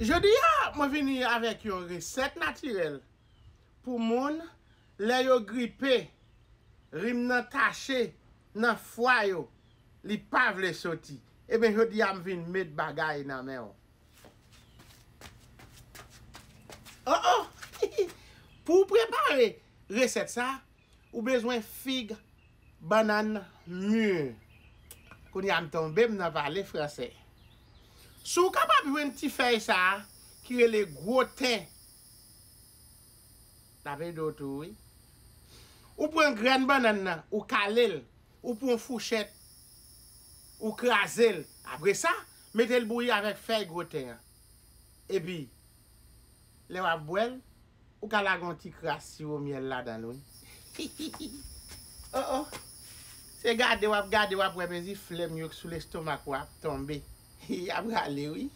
Jodi a mwen vini avèk yon resèt natirèl pou moun lè yo gripe rim nan tache nan fwa yo li pa vle soti ebyen jodi a m vin met bagay nan men w oh oh pou w prepare resèt sa. Ou bezwen fig bannann mur. Kounya m tonbe m nan pale fransè. Si w kapab jwenn ti fèy sa ki rele gwo ten. L ap ede w tou wi. Ou pran grenn bannann nan ou kale l, ou pran w fouchèt ou kraze l. Apresa mete l bouyi avèk fèy gwo ten an. Epi. lè wap bwèl ou ka lage yon ti kras siwo myèl ladanl wi hihihi oh oh se gade wap gade wap wè mezi flèm yo k sou lestomak ou ap tonbe hi yap rale wi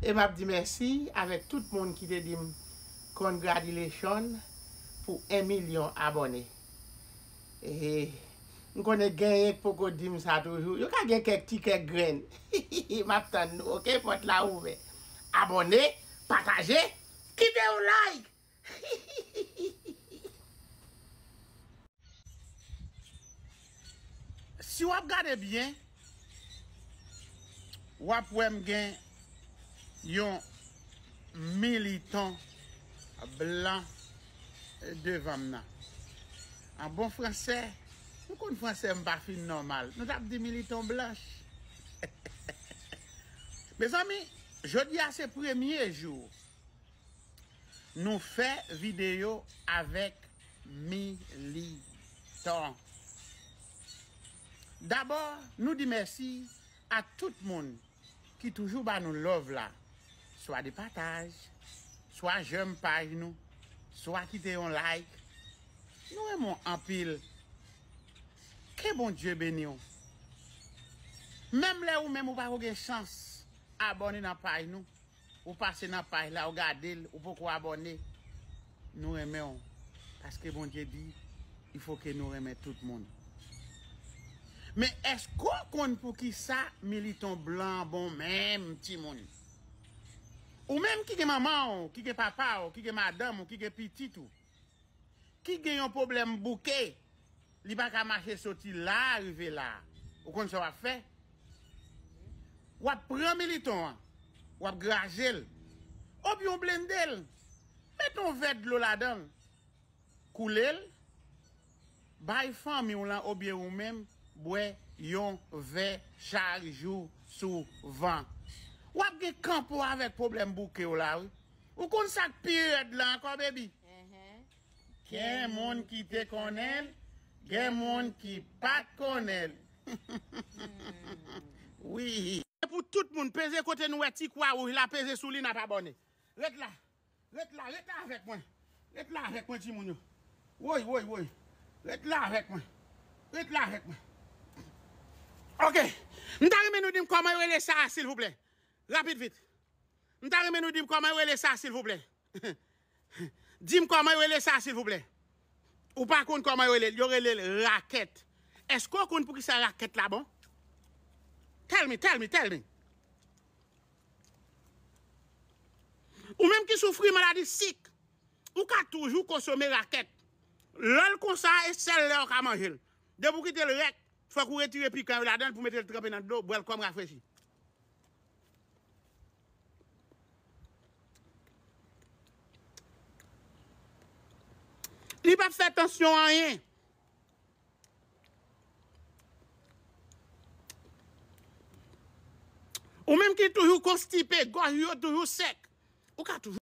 e map di mèsi avèk tout moun ki te dim congratulation pou 1 milyon abòne ehe m konnen genyen k poko dim sa toujou yo ka gen kèk ti kèk grenn hihihi map tann nou ok pòt la ouvè. Abòne, pataje, kite yon like! Si wap gade byen, wap wè m gen yon militan blan devan m nan. An bon fransè, nou konn fransè m pa fin nòmal, nou tap di militan blanch. Mezanmi jodi a se premye jou nou fè video avèk militan. Dabò nou di mèsi a tout moun ki toujou ba nou love la swa de pataj, swa jèm paj nou, swa kite yon like. Nou renmen w anpil Ke Bondye beniw. Menm lè ou menm ou pako gen chans abòne nan paj nou ou pase nan paj la ou gadel ou poko abòne nou renmenw paske Bondye di il faut ke nou renmen tout moun men eske ou konn poukisa militon blan an bon menm timoun ou menm ki gen manmanw ki gen papaw ki gen madanm ou ki gen pitit ou. ki gen yon pwoblèm bouke, li pa ka mache soti la a rive la a, ou konn sa w ap fè? W ap pran militon an, w ap graje l, obyen w blende l, met yon vè dlo ladan l, koule l, Bay fanmi w lan obyen ou menm bwè yon vè chak jou souvan. W ap gen kanpo avèk pwoblèm bouke w la wi. Ou konn sa k pi rèd lan ankò bebi? Gen moun ki te konnen l, gen moun ki pa t konnen l wi. Se pou tout moun. Peze kote nou wè ti kwa wouj la peze sou li nap abòne. Ret la. Ret la, ret la avèk mwen. Ret la avèk mwen timoun yo. Woy, woy, woy. Ret la avèk mwen. Ret la avèk mwen. Ok. M ta renmen nou di m kòman yo rele sa a silvouplè. Rapid vit. M ta renmen nou di m kòman yo rele sa a silvouplè. Di m kòman yo rele sa a silvouplè. Ou pa konn kòman yo rele l. Yo rele l rakèt. Èske ou konn poukisa rakèt la bon? Tell me, tell me, tell me. Ou menm ki soufri maladi sik, ou ka toujou konsome rakèt. Lè l konsa a, e sèl lè ou ka manje l. Depi ou kite l rèk, fòk ou retire pikan yo ladan l pou mete l tranpe nan dlo, bwè l kòm rafrechi. Li pap fè tansyon anyen. Ou menm ki toujou konstipe, gòj ou yo toujou sèk, ou ka toujou.